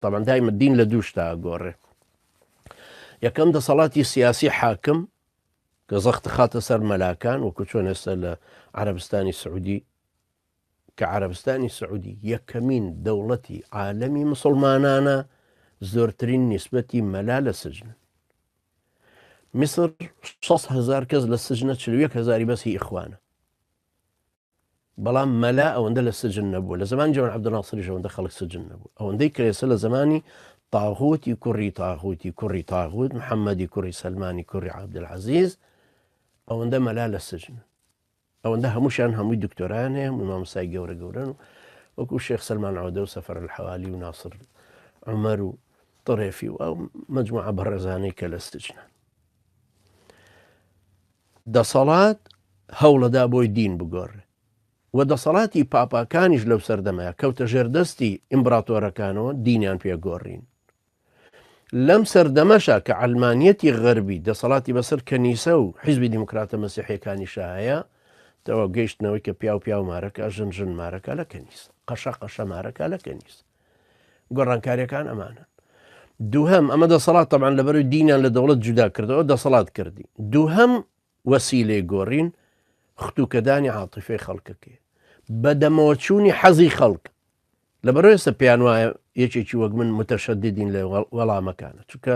تەبعەن دایمە دین لە دوو شتە ئەگۆڕێ یەکەم دەسەڵاتی سیاسی حاکم کە زەخت خاتە سەر مەلاکان وەکو چۆن ئێستا لە عربستانی سعودی کە عربستانی سعودی یەکەمین دەوڵەتی عالەمی مسلمانانە زۆرترین نیسبەتی مەلا لە سجن میسر 600 هزار کەس لە سجنە 1 هزاری بەسی ئیخوانە بەڵام مەلا ئەوەندە لە سجن نەبووە لە زمانی جەمال عەبدولناسریش ئەوەندە خەڵک سجن نەبوو ئەوەندەی کەێسە لە زمانی تاغوتی کوڕی تاغوتی کوڕی تاغوت محەممەدی کوڕی سلمانی کوڕی عبدعزیز ئەوەندە مەلا لە سجن ئەوەندە هەمووشان هەمووی دکتۆران هەیە هەمووی مامسای گەورە گەورن و وەکو شێخ سلمان عودە و سەفەر الحوالی و ناسر عمر و طرێفی و ئەو مجموعە بەڕێزانەی کە لە سجنە دەسەڵات هەوڵەدا بۆی دین بگۆڕێ و دەسەڵاتی پاپاکانیش لەو سەردەمەیا کەوتە ژێر دەستی ئیمبراتۆرەکانەوە دینیان پێ گۆڕین لەم سەردەمەشە کە عەلمانیەتی غەربی دەسەڵاتی بەسەر کەنیسە و حیزبی دیموکراتە مەسیحەکانی شایە تەوا گەیشتنەوەی کە پیاو پیاو مارەکە ژن ژن مارەکە لە کەنیس قەشە قەشە مارەکە لە کەنیس گۆڕانکاریەکان ئەمانن دووهم ئەمە دەسەڵات تەبان لەبەرو دینیان لە دەوڵەت جودا کردەوە دەسەڵات کردی دووهم وەسیلەی گۆڕین ختوکەدانی عاتیفەی خەڵکەکەی بەدەمەوە چوونی حەزی خەڵک لەبەر ئێستا پێیان وایە یەکێکی وەک من متەشەددین لە وەڵامەکانە چونکە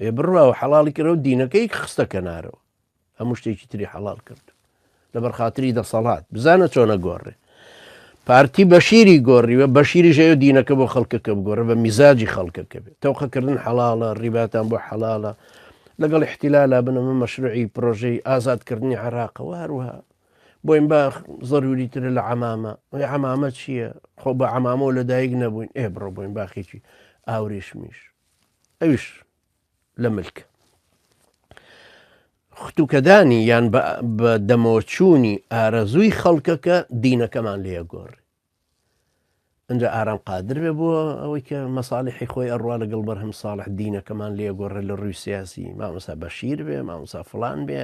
ئێ بڕاو حەڵاڵی کردەوە دینەکەی خستە کەنارەوە هەموو شتێکی تری حەڵال کرد لەبەر خااتری دەسەڵات بزانە چۆنە گۆڕێ پارتی بەشیری گۆڕیوە بەشیری ژەیە دینەکە بۆ خەڵکەکە بگۆڕە بە میزاجی خەڵکەکە بێت تەوقەکردن حەڵاڵە ڕیباتان بۆ حەڵالە لەگەڵ احتیلالا بنەمە مەشروعی پرۆژەی ئازادکردنی عراقەوە هەروها بۆین با زەروری ترە لە عمامە ئەی عمامە چییە خۆ بە عمامەوە لە دایک نەبووین ئێ بڕۆ بۆین باخێکی ئاوریشمیش ئەویش لە ملک ختوکەدانی یان بە دەمۆچوونی ئارەزووی خەڵکەکە دینەکەمان لێ گۆڕ ئەجا ئارام قادر بێ بۆ ئەوەی کە مەساالحی خۆی ئەڕوا لەگەڵ بەرهەم ساڵح دینەکەمان لێ گۆڕێ لە ڕووی سیاسی مامۆسا بەشیر بێ مامۆسا فلان بێ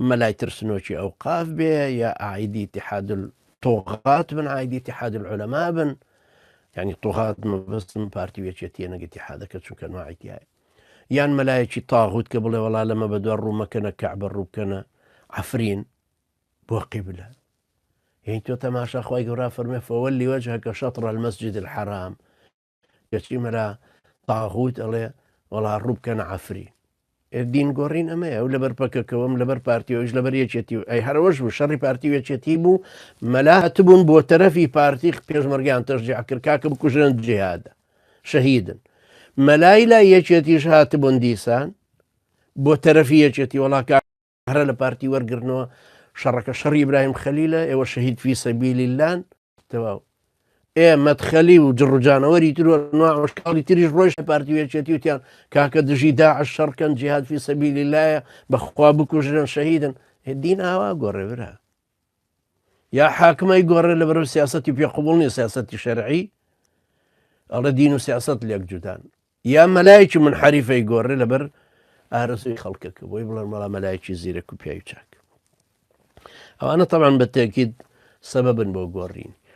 مەلای ترسنۆکی ئەو قاف بێ یا ئایدی تحادل تۆغات بن ئایدی تحادل عولەما بن یانی طوغات مەبەستم پارتی و یەکێتیە نەک اتحادەکە چونکە نوعی تایە یان مەلایەکی تاغوت کە بڵێ وەڵا لەمە بە دوای ڕوومەکەنە کەعبە ڕووبکەنە عفرین بۆ قیبلە یعنی تۆ تەماشا خی گەورا فەرمێ فەوە لیوەجهەکە شەطڕ المەسجد الحرام کەچی مەرا تاغوت ئەڵێ وەڵا ڕووبکەنە عفرین دین گۆڕین ئەمەیە ئەو لەبەر پەکەکەوەم لەبەر پارتی ئەوش لەبەر یەکێتی و ئەی هەرەوەش بوو شەڕی پارتی و یەکێتی بوو مەلا هەتبوون بۆ تەرەفی پارتی پێشمەرگیان تەشجیع کرد کاکە بکوژن جیهادە شەهیدن مەلای لا یەکێتیش هاتبوون دیسان بۆ تەرەفی یەکێتی وڵاکە هەرە لە پارتی وەرگرنەوە شەڕەکە شەڕی ئیبراهیم خەلیلە ئێوە شەهید فی سەبیلی لان تەواو ئێ مەدخەلی و جڕجانەوەری تر و ناوەشکاڵی تریش ڕۆژە پارتی وێچێتی وتیان کاکە دژی داعش شەڕکەن جیهاد فی سەبیلی لایە بەخوا بکوژرن شەهیدن دین ئاوا گۆڕێ برا یا حاکمای گۆڕێ لە بەرەو سیاستی پێ قوبڵنی سیاستی شەرعی ئەڵە دین و سیاست لێک جودان یا مەلایەکی منحریفەی گۆڕێ لەبەر ئارەزوی خەڵکەکە بۆی بڵێن مەڵا مەلایەکی زیرەک و پیاوی چاک ئەوانە تەمان بە تێکیت سەبەبن بۆ گۆڕین